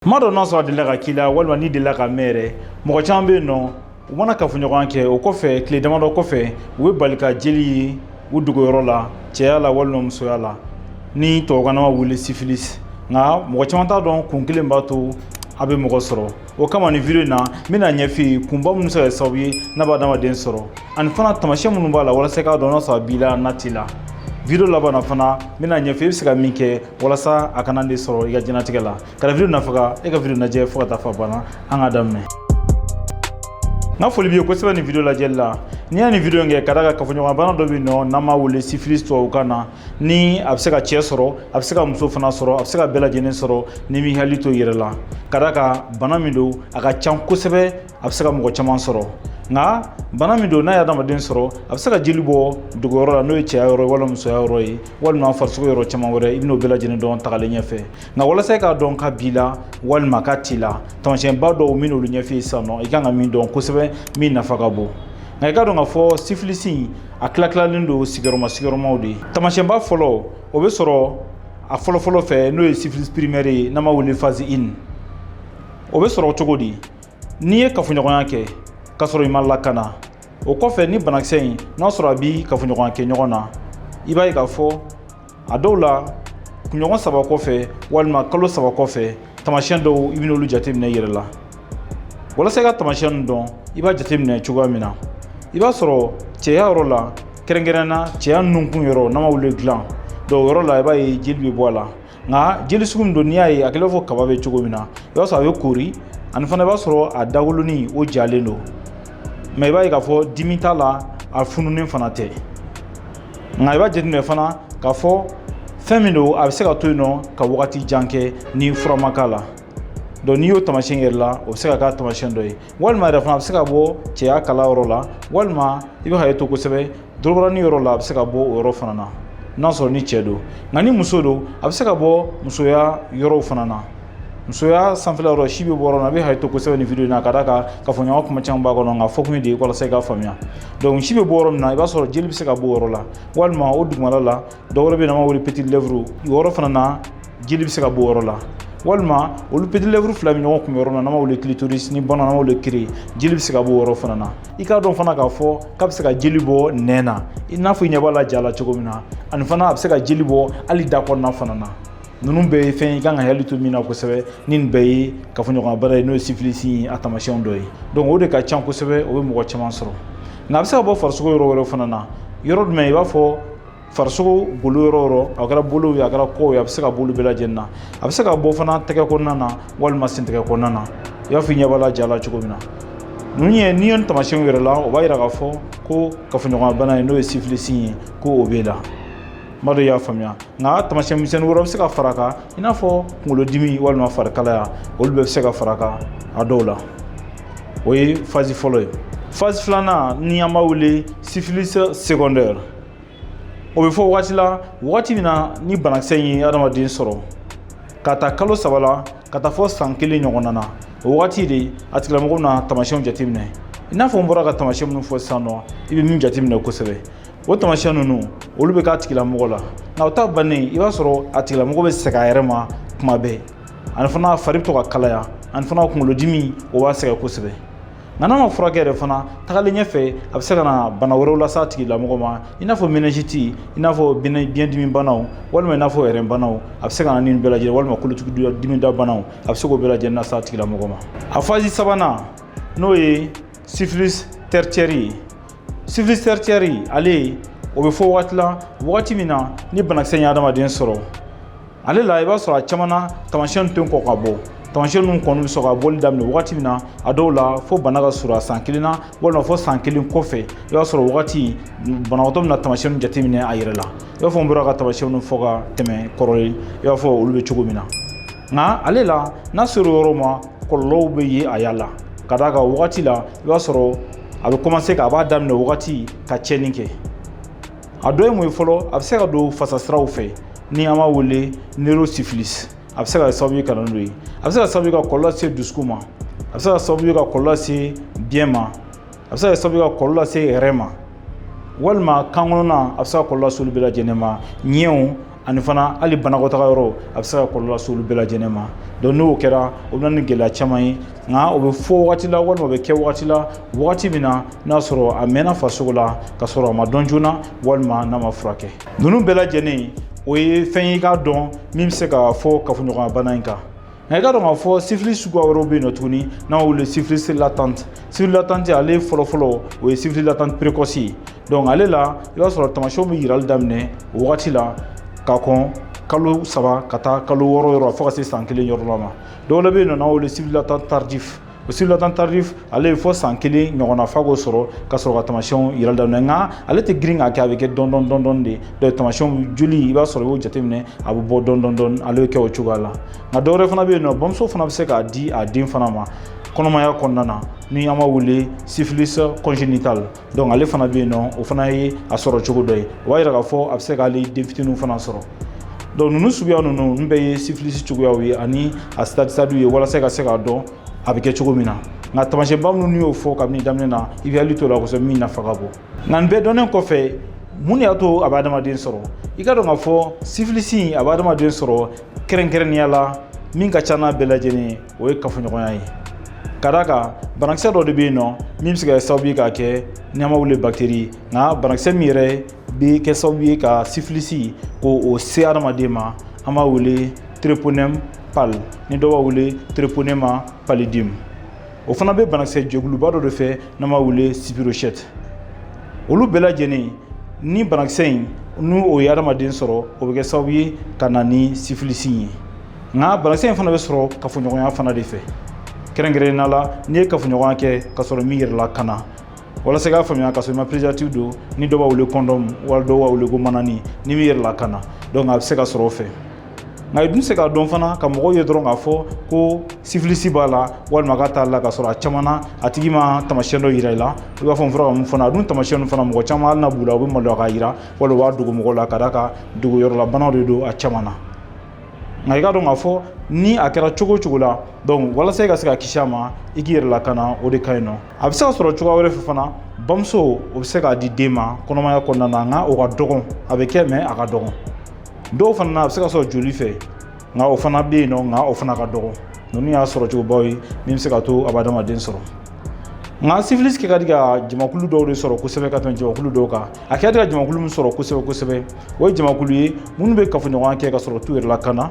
kuma dɔ n'a sɔrɔ a delila ka k'i la walima n'i delila ka mɛn yɛrɛ mɔgɔ caman bɛ yen nɔ u mana kafoɲɔgɔnya kɛ o kɔfɛ tile damadɔ kɔfɛ u bɛ bali ka jeli ye u dogoyɔrɔ la cɛya la walima musoya la ni tubabukan na an b'a wele sifilis nka mɔgɔ caman t'a dɔn kun kelen b'a to a bɛ mɔgɔ sɔrɔ o kama nin video in na n bɛna ɲɛf'i ye kunba minnu bɛ se ka kɛ sababu ye n'a bɛ adamaden sɔrɔ ani fana taamasiyɛn minnu b'a la walasa i k'a dɔn n'a sɔrɔ a b'i la n'a t'i la video laban na fana n bɛna ɲɛf'i ye i bɛ se ka min kɛ walasa a kana e sɔrɔ i ka diɲɛnatigɛ la Ka video nafa ka e ka video lajɛ fo ka taa f'a ban na an ka daminɛ n ka foli b'i ye kosɛbɛ nin video lajɛli la ne ye nin video in kɛ ka d'a kan kafoɲɔgɔnbana dɔ bɛ yen nɔ n'an b'a wele syphilis tubabukan na ni a bɛ se ka cɛ sɔrɔ a bɛ se ka muso fana sɔrɔ a bɛ se ka bɛɛ lajɛlen sɔrɔ n'i m'i hakili to i yɛrɛ la ka d'a kan bana min don a ka can kosɛbɛ a bɛ se ka mɔgɔ caman sɔrɔ nka bana min don n'a ye adamaden sɔrɔ a bɛ se ka jeli bɔ dogoyɔrɔ la n'o ye cɛya yɔrɔ ye walima musoya yɔrɔ ye walima farisogo yɔrɔ caman wɛrɛ i bɛn'o bɛɛ lajɛlen dɔn tagalen ɲɛfɛ nka walasa e k'a dɔn k'a b'i la walima k'a t'i la tamasiyɛnba dɔw n bɛn'olu ɲɛf'i ye sisan nɔ i kan ka min dɔn kosɛbɛ min nafa ka bon nka i k'a dɔn k'a fɔ sifilisi in a tilatilalen don sigiyɔrɔma sigiyɔrɔmaw de ye tamasiyɛnba fɔlɔ o bɛ sɔrɔ a fɔlɔfɔlɔ fɛ n'o ye sifilisi pirimɛri ye n'an b'a wele fazi in o bɛ sɔrɔ cogo di n'i ye kafoɲɔgɔnya kɛ k'a sɔrɔ i ma lakana o kɔfɛ ni banakisɛ in n'a sɔrɔ a b'i kafoɲɔgɔnyakɛɲɔgɔn na i b'a ye k'a fɔ a dɔw la kunɲɔgɔn saba kɔfɛ walima kalo saba kɔfɛ tamasiyɛn dɔw i bɛn'olu jateminɛ i yɛrɛ la walasa i ka tamasiyɛn nin dɔn i b'a jateminɛ cogoya min na i b'a sɔrɔ cɛya yɔrɔ la kɛrɛnkɛrɛnna cɛya nunkun yɔrɔ n'an b'a wele gland donc o yɔrɔ la i b'a ye jeli bɛ bɔ a la nka jeli sugu min don n'i y'a ye a kɛlen b'i n'a fɔ kaba bɛ cogo min na i b'a sɔrɔ a bɛ kori ani fana i b'a sɔrɔ a dagolonin o jalen don mais i b'a ye k'a fɔ dimi t'a la a fununen fana tɛ nka i b'a jateminɛ fana k'a fɔ fɛn min don a bɛ se ka to yen nɔ ka wagati jan kɛ ni fura ma k'a la donc n'i y'o taamasiyɛn y'i yɛrɛ la o bɛ se ka k'a taamasiyɛn dɔ ye walima yɛrɛ fana a bɛ se ka bɔ cɛya kala yɔrɔ la walima i b'i hakili to kosɛbɛ dɔrɔbaranin yɔrɔ la a bɛ se ka bɔ o yɔrɔ fana na n'a sɔrɔ ni cɛ don nka ni muso don a bɛ se ka bɔ musoya yɔrɔw fana na musoya sanfɛla yɔrɔ si bɛ bɔ yɔrɔ min a bɛ hakili to kosɛbɛ nin video in na ka d'a kan kafoɲɔgɔn kuma caman b'a kɔnɔ nk'a fɔ kun ye de ye walasa i k'a faamuya donc si bɛ bɔ yɔrɔ min na i b'a sɔrɔ jeli bɛ se ka bɔ o yɔrɔ la walima o dugumana la dɔwɛrɛ bɛ yen an b'a wele peti lɛfuru yɔrɔ fana na jeli bɛ se ka bɔ o yɔrɔ la walima olu peti lɛfuru fila bɛ ɲɔgɔn kun yɔrɔ min na n'an b'a wele kilitoris ni bamananw b'a wele kiri jeli bɛ se ka bɔ o yɔrɔ fana na i k'a dɔn fana k'a fɔ k'a bɛ se ka jeli bɔ nɛn na i n'a fɔ i ɲɛ b'a la ja la cogo min na ani fana a bɛ se ka jeli bɔ hali da kɔnɔna fana na ninnu bɛɛ ye fɛn ye i kan k'i hakili to min na kosɛbɛ ni nin bɛɛ ye kafoɲɔgɔnbana ye n'o ye sifilisi ye a taamasiyɛnw dɔ ye donc o de ka ca kosɛbɛ o bɛ mɔgɔ caman sɔrɔ nka a bɛ se ka bɔ farisogo yɔrɔ wɛrɛ fana na yɔrɔ jumɛn i b'a fɔ farisogo bolo yɔrɔ yɔrɔ a kɛra bolo ye a kɛra kɔw ye a bɛ se ka bɔ olu bɛɛ lajɛlen na a bɛ se ka bɔ fana tɛgɛ kɔnɔna na walima sentɛgɛ kɔnɔna na i n'a fɔ i ɲɛ b'a la ja la cogo min na ninnu ye n'i ye nin taamasiyɛnw ye i yɛrɛ la o b'a yira k'a fɔ ko kafoɲɔgɔnya bana ye n'o ye sifilisi ye ko o b'e la n b'a dɔn i y'a faamuya nka taamasiyɛn misɛnnin wɛrɛ bɛ se ka fara a kan i n'a fɔ kunkolodimi walima farikalaya olu bɛɛ bɛ se ka fara a kan a dɔw la o ye fazi fɔlɔ ye fazi filanan ni an b'a wele sifilisi segɔndɛri o bɛ fɔ wagati la wagati min na ni banakisɛ in ye adamaden sɔrɔ k'a ta kalo saba la ka taa fo san kelen ɲɔgɔnna na o wagati de a tigilamɔgɔ na tamasiyɛnw jateminɛ i n'a fɔ n bɔra ka tamasiyɛn minnu fɔ sisan nɔ i bɛ minnu jateminɛ kosɛbɛ o tamasiyɛn ninnu olu bɛ k'a tigilamɔgɔ la nka o ta bannen i b'a sɔrɔ a tigilamɔgɔ bɛ sɛgɛn a yɛrɛ ma kuma bɛɛ ani fana fari bɛ to ka kalaya ani fana kunkolodimi o b'a sɛgɛn kosɛbɛ nka n'a ma furakɛ yɛrɛ fana tagalen ɲɛfɛ a bɛ se ka na bana wɛrɛw lase a tigilamɔgɔ ma i n'a fɔ menɛnziti i n'a fɔ biɲɛdimi banaw walima i n'a fɔ ɛrɛn banaw a bɛ se ka na ni bɛɛ lajɛlen walima kolotugudimi da banaw a bɛ se k'o bɛɛ lajɛlen lase a tigilamɔgɔ ma a fazi sabanan n'o ye sifilis tɛricɛri ye sifilis tɛricɛri ale o bɛ fɔ wagati la wagati min na ni banakisɛ in ye adamaden sɔrɔ ale la i b'a sɔrɔ a caman na tamasiyɛn tɛ kɔn ka bɔ tamasiyɛn ninnu kɔni bɛ sɔrɔ ka bɔli daminɛ wagati min na a dɔw la fo bana ka surunya san kelen na walima fo san kelen kɔfɛ i b'a sɔrɔ wagati banabagatɔ bɛna tamasiyɛnw jateminɛ a yɛrɛ la i b'a fɔ n bɔra ka tamasiyɛnw fɔ ka tɛmɛ kɔrɔlen i b'a fɔ olu bɛ cogo min na nka ale la n'a sera yɔrɔ ma kɔlɔlɔw bɛ ye a y'a la ka d'a kan wagati la i b'a sɔrɔ a bɛ kɔmanse ka a b'a daminɛ wagati ka tiɲɛni kɛ a dɔ ye mun ye fɔlɔ a bɛ se ka don fasasiraw fɛ ni an b'a wele neurosifilis a bɛ se ka sababu ye ka na n'o ye a bɛ se ka sababu ye ka kɔlɔlɔ lase dusukun ma a bɛ se ka sababu ye ka kɔlɔlɔ lase biɲɛ ma a bɛ se ka sababu ye ka kɔlɔlɔ lase ɛrɛn ma walima kan kɔnɔna a bɛ se ka kɔlɔlɔ lase olu bɛɛ lajɛlen ma ɲɛw ani fana hali banakɔtaga yɔrɔ a bɛ se ka kɔlɔlɔ lase olu bɛɛ lajɛlen ma donc n'o kɛra o bɛ na ni gɛlɛya caman ye nka o bɛ fɔ wagati la walima o bɛ kɛ wagati la wagati min na n'a sɔrɔ a mɛnna farisogo la ka sɔrɔ a ma dɔn joona walima n'a ma furakɛ ninnu bɛɛ lajɛlen o ye fɛn ye i k'a dɔn min bɛ se ka fɔ kafoɲɔgɔnya bana in kan nka i k'a dɔn k'a fɔ sifili suguya wɛrɛw bɛ yen nɔ tuguni n'an b'a wele sifilisi latante sifili latante ale fɔlɔfɔlɔ o ye sifili latante perekɔsi ye donc ale la i b'a sɔrɔ tamasiyɛnw bɛ yirali daminɛ o wagati la ka kɔn kalo saba ka taa kalo wɔɔrɔ yɔrɔ fo ka se san kelen yɔrɔ la ma dɔw la bɛ yen nɔ n'an b'a wele sifili latante tardif o sifili latante tardif ale ye fo san kelen ɲɔgɔnna fa k'o sɔrɔ ka sɔrɔ ka tamasiyɛnw yirali daminɛ nka ale tɛ girin k'a kɛ a bɛ kɛ dɔɔnin dɔɔnin dɔɔnin dɔɔnin de dɔw tamasiyɛnw joli i b'a sɔrɔ i y'o jateminɛ a bɛ bɔ dɔɔnin dɔɔnin dɔɔnin ale bɛ kɛ o cogoya la nka dɔwɛrɛ fana bɛ yen nɔ bamuso fana bɛ se k'a di a den fana ma kɔnɔmaya kɔnɔna na ni an b'a wele syphilis congénitale donc ale fana bɛ yen nɔ o fana ye a sɔrɔ cogo dɔ ye o b'a yira k'a fɔ a bɛ se ka hali den fitiniw fana sɔrɔ donc ninnu suguya ninnu ninnu bɛɛ ye sifilisi cogoyaw ye ani a sitadi sitadiw ye walasa ka se k'a dɔn a bɛ kɛ cogo min na nka tamasiyɛnba minnu n y'o fɔ kabini daminɛ na i b'i hakili to a la kosɛbɛ min nafa ka bon nka nin bɛɛ dɔnnen kɔfɛ mun de y'a to a bɛ adamaden sɔrɔ i k'a dɔn k'a fɔ sifilisi a bɛ adamaden sɔrɔ kɛrɛnkɛrɛnnenya la min ka ca n'a bɛɛ lajɛlen ye o ye kafoɲɔgɔnya ye ka d'a kan banakisɛ dɔ de bɛ yen nɔ min bɛ se ka kɛ sababu ye k'a kɛ n'an b'a wele bakiteri nka banakisɛ min yɛrɛ bɛ kɛ sababu ye ka sifilisi k'o se adamaden ma an b'a wele treponɛmu pali ni dɔw b'a wele treponɛma palidimu o fana bɛ banakisɛ jɛkuluba dɔ de fɛ n'an b'a wele spirochète olu bɛɛ lajɛlen ni banakisɛ in ni o ye adamaden sɔrɔ o bɛ kɛ sababu ye ka na ni sifilisi ye nka banakisɛ in fana bɛ sɔrɔ kafoɲɔgɔnya fana de fɛ kɛrɛnkɛrɛnnenya la n'i ye kafoɲɔgɔnya kɛ ka sɔrɔ i m'i yɛrɛ lakana walasa k'a faamuya ka sɔrɔ i ma préservatif don ni dɔw b'a wele kɔndɔmu wali dɔw b'a wele ko manani n'i m'i yɛrɛ lakana donc a bɛ se ka sɔrɔ o fɛ nka i dun tɛ se k'a dɔn fana ka mɔgɔ ye dɔrɔn k'a fɔ ko sifilisi b'a la walima k'a t'a la ka sɔrɔ a caman na a tigi ma tamasiyɛn dɔ yira i la i b'a fɔ n fɔra ka mun fana a dun tamasiyɛn fana mɔgɔ caman hali n'a b'u la u bɛ maloya k'a yira walima u b'a dogo mɔgɔw la ka d'a kan dogoyɔrɔlabanaw de don a caman na nka i k'a dɔn k'a fɔ ni a kɛra cogo o cogo la donc walasa i ka se ka kisi a ma i k'i yɛrɛ lakana o de ka ɲi nɔ a bɛ se ka sɔrɔ cogoya wɛrɛ fɛ fana bamuso o bɛ se k'a di den ma kɔnɔmaya kɔnɔna na nka o ka dɔgɔn a bɛ kɛ mais a ka dɔgɔn dɔw fana na a bɛ se ka sɔrɔ joli fɛ nka o fana bɛ yen nɔ nka o fana ka dɔgɔ ninnu y'a sɔrɔ cogobaw ye min bɛ se k'a to a bɛ adamaden sɔrɔ nka syphilis kɛ ka di ka jamakulu dɔw de sɔrɔ kosɛbɛ ka tɛmɛ jamakulu dɔw kan a kɛ ka di ka jamakulu min sɔrɔ kosɛbɛ kosɛbɛ o ye jamakulu ye minnu bɛ kafoɲɔgɔnya kɛ ka sɔrɔ u t'u yɛrɛ lakana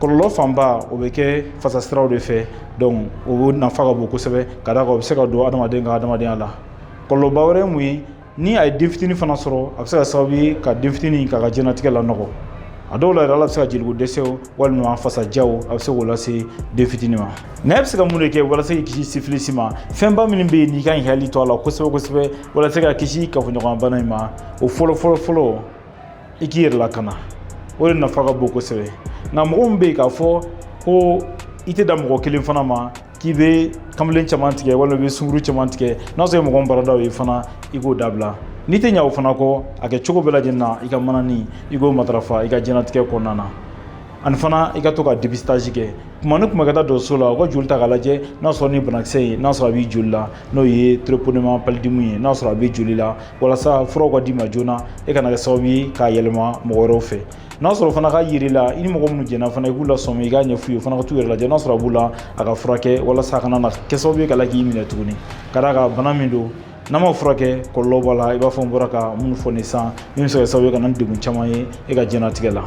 kɔlɔlɔ fanba o bɛ kɛ fasasiraw de fɛ donc o nafa ka bon kosɛbɛ ka d'a kan o bɛ se ka don adamaden ka adamadenya la kɔlɔlɔba wɛrɛ ye mun ye ni a ye den fitini fana sɔrɔ a bɛ se ka kɛ sababu ye ka den fitini k'a ka diɲɛnatigɛ lanɔgɔ a dɔw la yɛrɛ la a bɛ se ka yeliko dɛsɛw walima fasajaw a bɛ se k'o lase den fitini ma nka e bɛ se ka mun de kɛ walasa k'i kisi sifilisi ma fɛnba minnu bɛ yen n'i ka ɲi k'i hakili to a la kosɛbɛ kosɛbɛ walasa ka kisi kafoɲɔgɔnbana in ma o fɔlɔ fɔlɔ fɔlɔ i k'i yɛrɛ lakana o de nafa ka bon kosɛbɛ nka mɔgɔ min bɛ yen k'a fɔ ko i tɛ dan mɔgɔ kelen fana ma k'i bɛ kamalen caman tigɛ walima i bɛ sunguru caman tigɛ n'a sɔrɔ mɔgɔ min baara d'o ye fana i k'o dabila n'i tɛ ɲa o fana kɔ a kɛ cogo bɛɛ lajɛlen na i ka manani i k'o matarafa i ka diɲɛnatigɛ kɔnɔna na ani fana i ka to ka depistage kɛ tuma ni tuma ka taa dɔgɔtɔrɔso la u ka joli ta k'a lajɛ n'a sɔrɔ ni banakisɛ in n'a sɔrɔ a b'i joli la n'o ye treponema palidimu ye n'a sɔrɔ a bɛ joli la walasa furaw ka d'i ma joona e kana kɛ sababu ye k'a yɛlɛma mɔgɔ wɛrɛw fɛ n'a sɔrɔ fana k'a y'i la i ni mɔgɔ minnu jɛnna fana i k'u lasɔmi i k'a ɲɛf'u ye u fana ka t'u yɛrɛ lajɛ n'a sɔrɔ a b'u la u k'a furakɛ walasa a kana na kɛ sababu ye ka la k'i minɛ tuguni ka d'a kan bana min don n'a ma furakɛ kɔlɔlɔ b'a la i b'a fɔ n bɔra ka minnu fɔ nin san min bɛ se ka kɛ sababu ye ka na ni degun caman ye e ka diɲɛnatigɛ la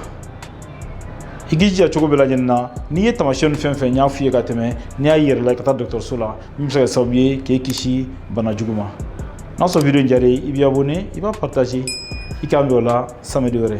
i k'i jija cogo bɛɛ lajɛlen na n'i ye taamasiyɛn fɛn fɛn n y'a f'i ye ka tɛmɛ n'i y'a y'i yɛrɛ la i ka taa dɔgɔtɔrɔso la min bɛ se ka kɛ sababu ye k'e kisi bana jugu ma n'a sɔrɔ video in diyar'i ye i b'i abonné i b'a partager i k'an bɛn o la samedi wɛrɛ